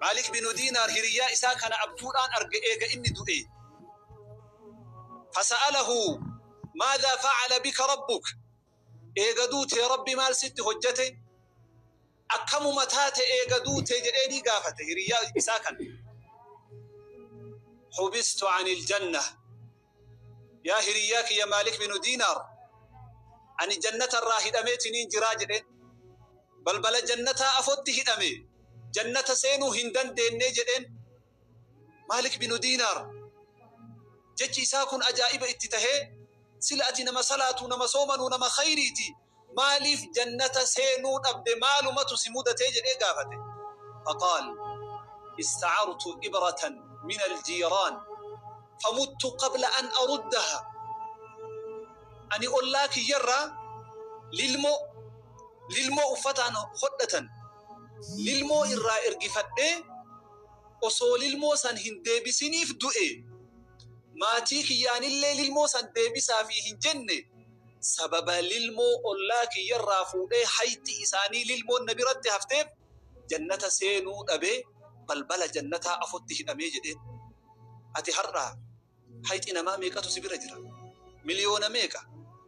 Maalik binu Diinaar hiriyyaa isaa kana abjuudhaan arge eega inni du'ee. Fasa'alahu maadhaa fa'ala bika rabbuk eega duutee rabbi maal sitti hojjate akkamuma taate eega duutee jedheenii gaafate hiriyyaa isaa kana. Hubistu anil jannah Yaa hiriyyaa kiyya Maalik binu Diinaar, ani jannata irraa hidhameetiniin jiraa jedheen. Balbala jannataa afotti hidhame, jannata seenuu hin dandeennee jedheen. Maalik binu Diinaar jechi isaa kun ajaa'iba itti tahee, sila ati nama salaatuu, nama soomanuu, nama khayriitii, Maaliif jannata seenuu dhabde maalumatu si mudate jedhee gaafate. Faqaal, Istacartu ibratan min aljiiraan famuttu qabla an aruddaha Ani ollaa kiyyarraa lilmoo, lilmoo uffataan hodhatan, lilmoo irraa ergifadhee osoo lilmoo san hin deebisiniif du'e. Maatii kiyyaanillee lilmoo san deebisaafii hin jenne. Sababa lilmoo ollaa kiyyarraa fuudhee hayxi isaanii lilmoon na biratti hafteef Jannata seenuu dhabee balbala Jannataa afotti hidhamee jedheen. Ati har'a hayxi namaa meeqatu si bira jira? Miliyoona meeqa?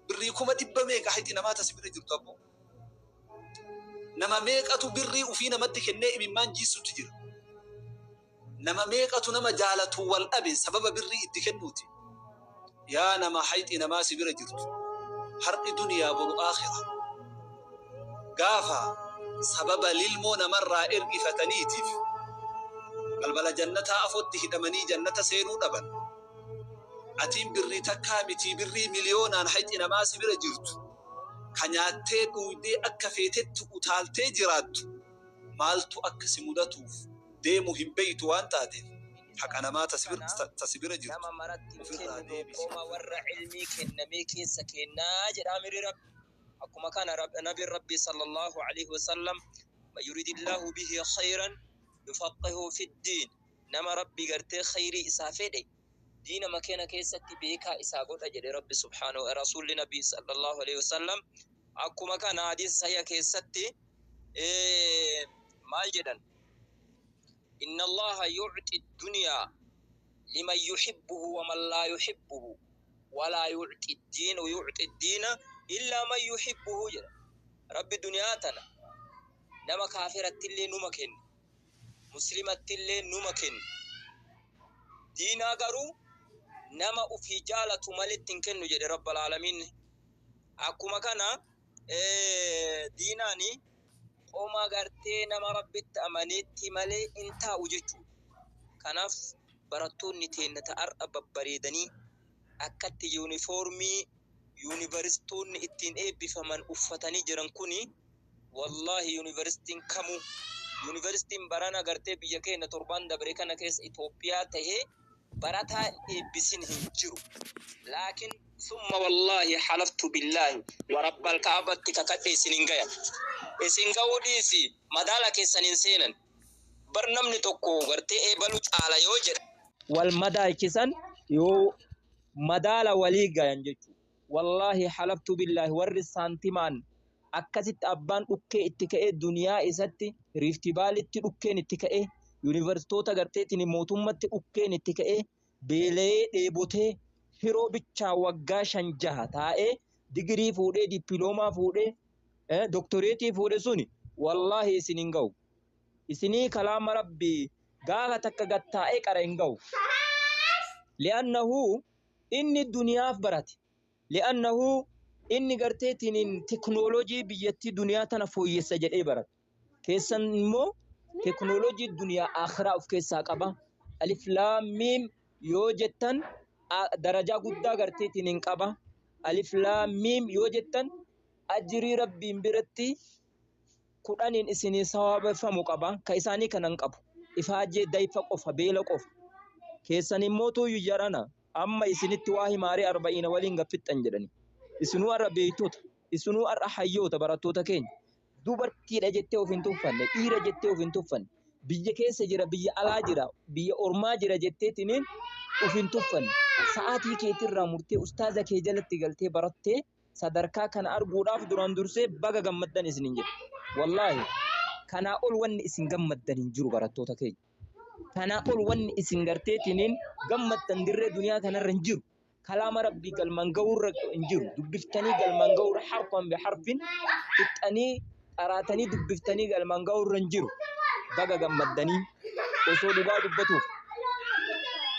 Birrii kuma dhibba meeqa hayxi namaa ta si bira jirtu abboo? Nama meeqatu birrii ufii namatti kennee imimmaan jiissutti jira? Nama meeqatu nama jaalatu wal dhabe sababa birrii itti kennuutiin. Yaa nama hayxii namaa si bira jirtu har'i duniyaa boru aakhira. Gaafa sababa lilmoo namarraa ergifataniitiif balbala jannataa afootti hidhamanii jannata seenuu dhaban. Atiin birrii takkaa mitii birrii miliyoonaan hayxii namaa si bira jirtu ka nyaattee dhuuydee akka feetetti utaaltee jiraattu maaltu akka si mudatuuf. deemu hin beeytu waan taateef haqa namaa ta si bira jirtu ufirraa deebisi ofirraa dhorki. Akkuma kana Nabiin Rabbii sallallaahu aleyhi wa sallam man yuridillaahu bihi kheyran yufaqqihhu fiddiin nama Rabbi gartee kheyrii isaa fedhe diinama kena keessatti beekaa isaa godha jedhe Rabbi subhaanahu rasuulli Nabii sallallaahu aleyhi wa sallam akkuma kana hadiisa sahiha keessatti maal jedhan Inna Allaaha yu'xi dunyaa liman yuhibbuhu wa man laa yuhibbuhu wa laa yu'xi diinu yu'xi diina illaa man yuhibbuhu jedha. Rabbi duniyaa tana nama kaafirattillee numa kenna, muslimattillee numa kenna. Diinaa garuu nama ufii jaalatu maletti hin kennu jedhe Rabbal Aalamiin. Akkuma kana diinaan qoma gartee nama rabbitti amaneetti malee hin taa'u jechuudha. Kanaaf barattoonni teenna ta'arra babbareedanii akkatti yuunifoormii yuunivarsiitoonni ittiin eebbifaman uffatanii jiran kuni wallaahi yuunivarsiitiin kamuu yuunivarsiitiin barana gartee biyya keenya torbaan dabre kana keessa Itoophiyaa ta'ee barataa eebbisin hin jiru laakin summa wallaahi halaftu billaahi wa rabbal ka'abatti kakadhe isin hin gayan isin ga'uu dhiisi madaala keessan hin seenan bar namni tokko gartee eebalu caala yoo jedhan wal madaalchisan yoo madaala walii gayan jechuu Wallaahi halaftu billaahi warri saantimaan akkasitti abbaan dhukkee itti ka'ee duniyaa isatti riiftivaalitti dhukkeen itti ka'ee yuunivarsiitoota garteetiin mootummatti dhukkeen itti ka'ee beelayee dheebotee hiroo bichaa waggaa shan jaha taa'ee digirii fuudhee dippiloomaa fuudhee eh, doktoreetii fuudhe suni wallaahi isin hin ga'u isinii kalaama rabbii gaafa takka gattaa'ee qara hin ga'u li'annahu Inni duniyaaf barate. Li'annahu inni gartee tiniin teknooloojii biyyattii duniyaa tana fooyyessa jedhee barate. Keessan immoo teknooloojii duniyaa akhiraa of keessaa qaba. Alif laam miim yoo jettan darajaa guddaa gartee tiniin qaba. Alif laam miim yoo jettan ajrii rabbiin biratti kudhaniin isinii sawaabeffamu qaba, ka isaanii kana hin qabu. Ifaajee, dayfa qofa, beela qofa. Keessaniin mootuuyyu jarana amma isinitti waa himaaree arba'iina waliin gad fixxan jedhanii. Isinuu ar'a beeytota, isinuu ar'a hayyoota barattoota keenya. Dubartiidha jettee of hin tuffanne, dhiira jettee of hin tuffanne, biyya keessa jira, biyya alaa jira, biyya ormaa jira jetteetiniin of hin tuffanne. Sa'aatii keetirraa murtee ustaaza kee jalatti galtee barattee, sadarkaa kana arguudhaaf duraan dursee baga gammaddan isinin jedha. Wallaahi kanaa ol wanni isin gammaddan hin jiru barattoota keenya. Kanaa ol wanni isin garteetiniin gammaddan dirree duniyaa kanarra hin jiru. Kalaama rabbii galmaan ga'uurra hin jiru. Dubbiftanii galmaan ga'uurra harfan bi harfin fixxanii qaraatanii dubbiftanii galmaan ga'uurra hin jiru. Baga gammaddanii osoo dhugaa dubbatuuf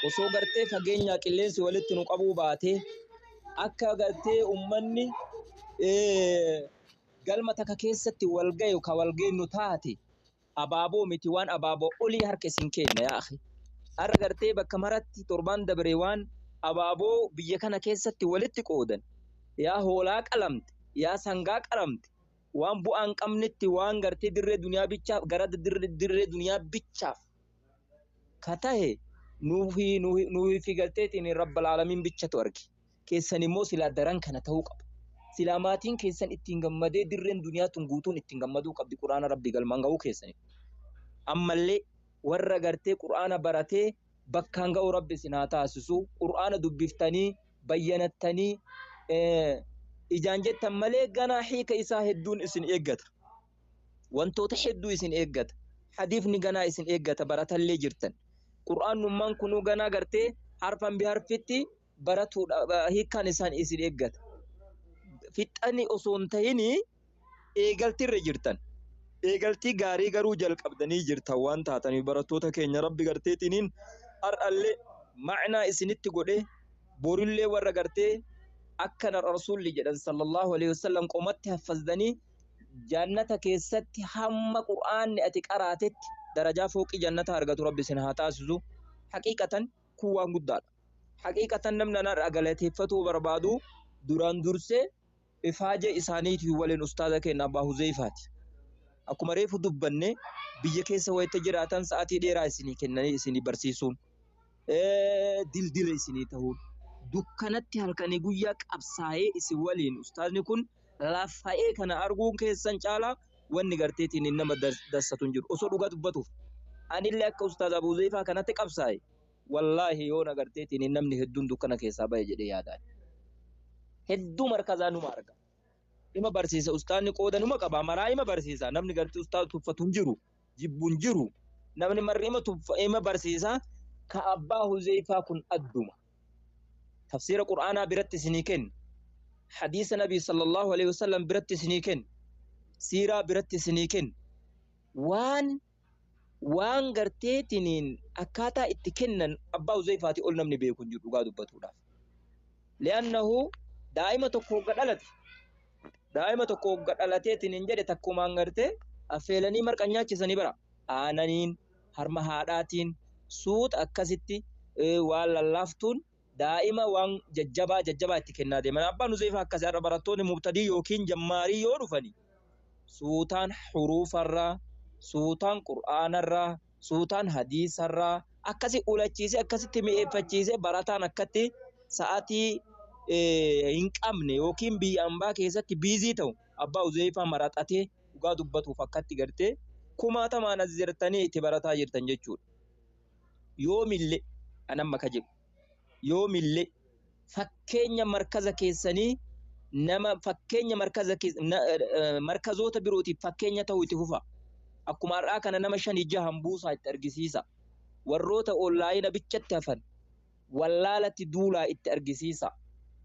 osoo gartee fageenyaa qilleensi walitti nu qabuu baatee akka gartee ummanni galma takka keessatti wal gayu ka wal geennu taate abaaboo miti waan abaaboo olii harka isin keenna yaa akhi har'a gartee bakka maratti torbaan dabre waan abaaboo biyya kana keessatti walitti qoodan yaa hoolaa qalamte yaa sangaa qalamte waan bu'aan qabnetti waan gartee dirree duniyaa bichaaf gara dirree duniyaa bichaaf ka tahe nuufi nuufi nuufi galteetiin rabbal aalamiin bichatu arge keessan immoo silaa daran kana tahuu qaba silaa maatiin keessan ittiin gammadee dirreen duniyaa tun guutuun ittiin gammaduu qabdi quraana rabbi galmaan gahuu keessaniif ammallee warra gartee quraana baratee bakkaan ga'u rabbi isin haa taasisu quraana dubbiftanii bayyanattanii ijaan jettan malee ganaa hiika isaa hedduun isin eeggata wantoota hedduu isin eeggata hadiifni ganaa isin eeggata baratallee jirtan qur'aannummaan kunuu ganaa gartee harfan biharfitti baratuudha hiikkaan isaan isin eeggata fixxani osoo hin tahini eegaltirra jirtan eegaltii gaarii garuu jalqabdanii jirtan waan taatanii barattoota keenya rabbi garteetiniin har'allee ma'naa isinitti godhee borillee warra gartee akkana rasuulli jedhan sallallahu alaihi wasallam qomatti haffazdanii Jannata keessatti hamma qur'aanni ati qaraatetti darajaa fooqii jannataa argatu rabbi isin haa taasisu haqiiqatan kun waan guddaadha haqiiqatan namni anarraa galateeffatuu barbaadu duraan dursee ifaaje isaaniitii waliin ustaaza keenya abbaa huzeefaati akkuma reefu dubbanne biyya keessa wayita jiraatan sa'aatii dheeraa isinii kennanii isinii barsiisuun dildila isinii tahuun dukkanatti halkanii guyyaa qabsaa'ee isin waliin ustaazni kun lafa'ee kana arguun keessan caalaa wanni garteetiin nama dassatu hin jiru osoo dhugaa dubbatuuf anillee akka ustaaz Abuu Zeeyfaa kanatti qabsaa'e wallaahi yoona garteetiin namni hedduun dukkana keessaa ba'e jedhee yaadaan hedduu markazaa numa arga ima barsiisa ustaazni qooda numa qabaa maraa ima barsiisa namni gartee ustaaz tuffatu hin jiru jibbu hin jiru. Namni marri ima tuffa, ima barsiisa, ka abbaa Huzeyfaa kun adduma. Tafsiira Qur'aanaa biratti isinii kenna. Hadiisa Nabii sallallahu alaihi wasallam biratti isinii kenna. Siiraa biratti isinii kenna. Waan waan garteetiniin akkaataa itti kennan abbaa Huzeyfaati ol namni beeku hin jiru dhugaa dubbatuudhaaf. Li'annahu daa'ima tokko hogga dhalate Daa'ima tokko hogga dhalateetiin hin jedhe takkumaan gartee affeelanii marqa nyaachisanii bara. Aananiin harma haadhaatiin suuta akkasitti eh, waan lallaaftuun daa'ima waan jajjabaa jajjabaa itti kennaa deeman. Abbaan Huzeefaa akkasii har'a barattoonni mubtadii yookiin jammaarii yoo dhufanii suutaan huruufarraa, suutaan qur'aanarraa, suutaan hadiisarraa akkasi ulachiisee akkasitti mi'eeffachiisee barataan akkatti sa'atii hin qabne yookiin biyya ambaa keessatti biizii ta'u abbaa uzeefaa maraxatee dhugaa dubbatuuf akkatti gartee kumaatamaan as jirtanii itti barataa jirtan jechuudha. Yoomillee anamma ka jedhu. yoomillee fakkeenya markaza keessanii nama fakkeenya markaza kees- na- eh, markazoota birootiif fakkeenya ta'uu itti fufa. Akkuma har'aa kana nama shanii jahan buusaa itti argisiisa. Warroota onlaayina bichatti hafan wallaalatti duulaa itti argisiisa.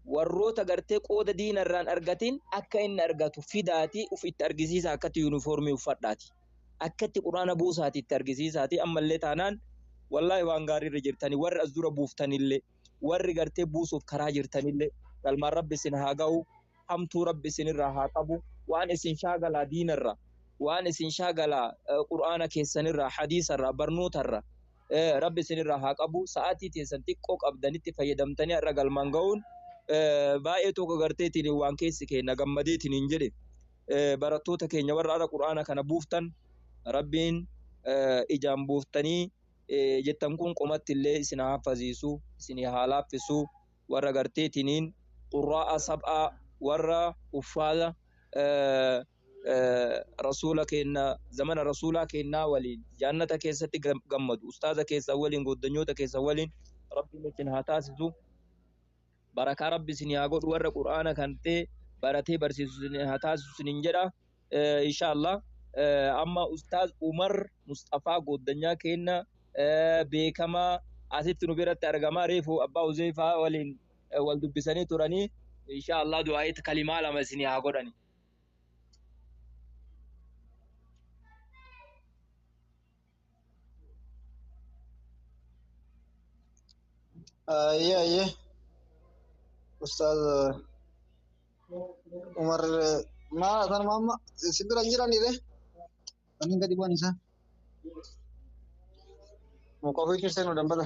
Warroota gartee qooda diinarraan argatiin akka inni argatu fidaatii uf itti argisiisa akkatti yuunifoormii uffadhaati. akka itti qur'aana buusaati itti argisiisaati ammallee taanaan wallaahi waan gaarii irra jirtani warri as dura buuftanillee warri gartee buusuuf karaa jirtanillee galmaan rabbi isin haa ga'u hamtuu rabbi isinirraa haa qabu waan isin shaagalaa diinarra waan isin shaagalaa eh, qur'aana keessanirraa hadiisarraa barnootarra eh, rabbi isinirraa haa qabu sa'aatii teessan xiqqoo qabdanitti fayyadamtanii har'a galmaan ga'uun eh, baay'ee tokko garteetiin waan keessi keenna gammadeetiin hin jedhe barattoota keenya warra ara qur'aana kana buuftan rabbiin ijaan buuftanii jettan kun qomatti illee isin haafaziisu isin haa laaffisu warra garteetiniin qurraa'a sab'aa warra uffaala rasuula keenna zamana rasuulaa keennaa waliin jaannata keessatti gammadu ustaaza keessan waliin gooddanyoota keessan waliin rabbiin isin haa taasisu barakaa rabbi isinii haa godhu warra qur'aana kante baratee barsiisu isinii haa taasisu isiniin jedha Eh, inshaallah Eh, amma ustaaz umar musxafaa gooddanyaa keenna eh, beekamaa asitti nu biratti argamaa reefu abbaa uzeefaa waliin eh, wal dubbisanii turanii inshaallah du'aayitti kalimaa lama isinii haa godhani Ayyee ayyee ustaaz Umar maal haasaan maamma si bira hin jiranii ree? Ani gadi bu'an isaa. Muka ofii keessee nu dambata.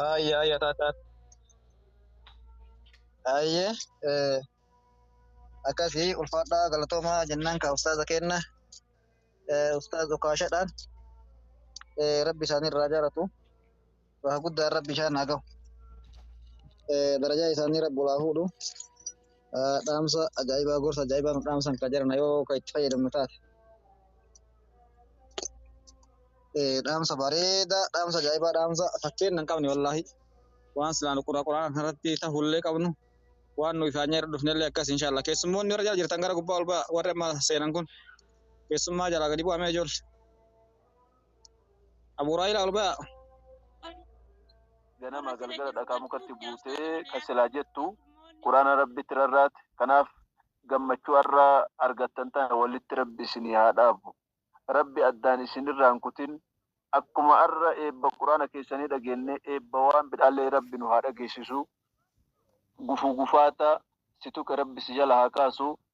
Aayye aayye taataa. Aayye eh, akkasii ulfaadhaa galatoomaa jennaan kaa ustaaza keenna eh, ustaaz Okaashadhaan eh, rabbi isaanii irraa jaalatu waa guddaan rabbi isaan haa gahu eh, darajaa isaanii rabbi olaa fuudhu dhaamsa ajaa'ibaa gorsa ajaa'ibaa nu dhaamsan kan jiran yoo kan itti fayyadamnu taate. Dhaamsa bareedaa dhaamsa ajaa'ibaa dhaamsa fakkeenya hin qabne wallaahi waan silaan qura quraan irratti ta'ullee qabnu waan nu ifaan nyaarra dhufnellee akkas inshaalla keessummoonni warra jala jirtan gara gubbaa ol ba'a warri amma seenan kun keessummaa jalaa gadi bu'amee ijoollee. Abu Huraayra ol ba'a. ganama galgala dhakaa mukatti buutee kan silaa jettu quraana rabbitti rarraate kanaaf gammachuu har'a argattan tana walitti rabbi isinii haa dhaabu rabbi addaan isinirraan kutin akkuma har'a eebba quraana keessanii dhageenne eebba waan bidhaallee rabbi nu haa dhageessisu gufuu gufaata si tuqe rabbi si jala haa kaasu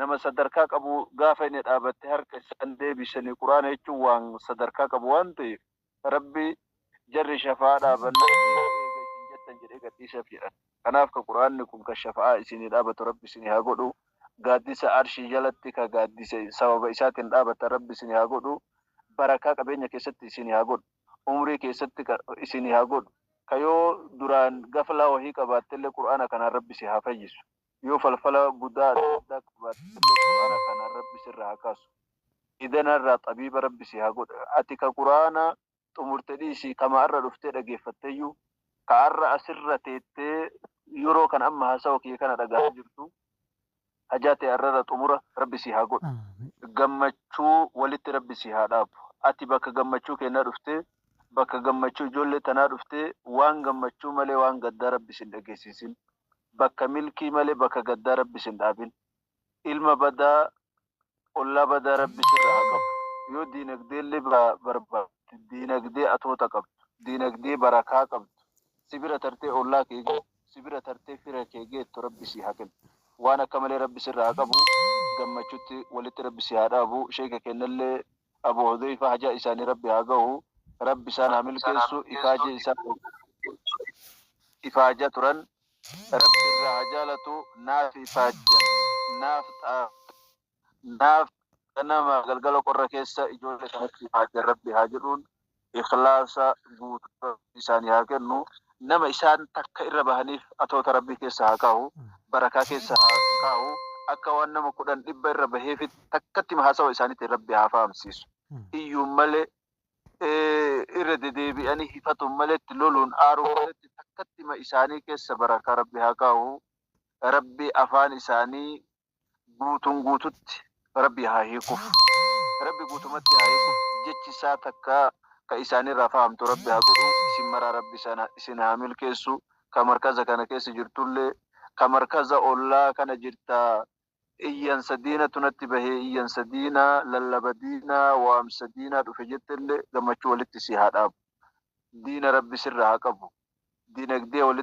nama sadarkaa qabu gaafa inni dhaabatte harka isaan deebisanii quraana jechuun waan sadarkaa qabu waan ta'eef rabbi jarri shafa'aa dhaabanna eega isin jettan jedhee gadhiiseef jedhan kanaaf ka quraanni kun ka shafa'aa isinii dhaabatu rabbi isinii haa godhu gaaddisa arshii jalatti ka gaaddise sababa isaatiin dhaabattan rabbi isinii haa godhu barakaa qabeenya keessatti isinii haa godhu umrii keessatti ka isinii haa godhu ka yoo duraan gaflaa wahii qabaattellee quraana kanaan rabbi si haa fayyisu Yoo falfala budaa adda addaa qabaattellee qur'aana kanaan rabbi sirraa haa kaasu. Idana irraa xabiiba rabbi si haa godhu. Ati ka qur'aana xumurte dhiisii kama arra dhuftee dhageeffatteyyuu ka arra asirra teettee yeroo kana amma haasawa kiyya kana dhagahaa jirtu hajaa tee arrarra xumura rabbi si haa godhu. Gammachuu walitti rabbi si haa dhaabu. Ati bakka gammachuu keennaa dhuftee bakka gammachuu ijoollee tanaa dhuftee waan gammachuu malee waan gaddaa rabbi sin dhageessiisin. bakka milkii male bakka gaddaa rabbi sin dhaabin ilma badaa ollaa badaa rabbi sirra haa qabu yoo diinagdeelle barbaatte diinagdee atoota qabdu diinagdee barakaa qabdu si bira tartee ollaa kee geettu si bira tartee fira kee geettu rabbi sii haa kennu waan akka malee rabbi sirra haa qabu gammachutti walitti rabbi si haa dhaabu sheeka keennallee Abu Hudheyfa hajaa isaani Rabbi haa gahu Rabbi isaan haa milkeessu ifaajee isaan ifaaja turan Rabbi irraa haa jaalatu naaf ifaajjan naaf xaafii naaf ganama galgala qorra keessa ijoole kanatti ifaajjan Rabbi haa jedhuun ikhlaasa guutuu Rabbi isaani haa kennu nama isaan takka irra bahaniif atoota Rabbi keessa haa kaahu barakaa keessa haa kaahu akka waan nama kudhan dhibba irra baheefitti takkattima haasawa isaanitiin Rabbi haa fahamsiisu iyyuun malee irra dedeebi'anii hifatuun maleetti loluun aaruun maleetti takkattima isaanii keessa barakaa Rabbi haa kaahu Rabbi afaan isaanii guutuun guututti Rabbii haa hiikuf Rabbi guutumatti haa hiikuf jechi isaa takkaa ka isaanirraa fahamtu Rabbi haa godhu isin maraa Rabbi sana isin haa milkeessu ka markaza kana keessa jirtullee ka markaza ollaa kana jirta iyyansa diinatu natti bahe iyyansa diinaa lallaba diinaa waamsa diinaa dhufe jettellee gammachuu walitti si haa dhaabu diina Rabbi sirra haa qabu dinagdee walitti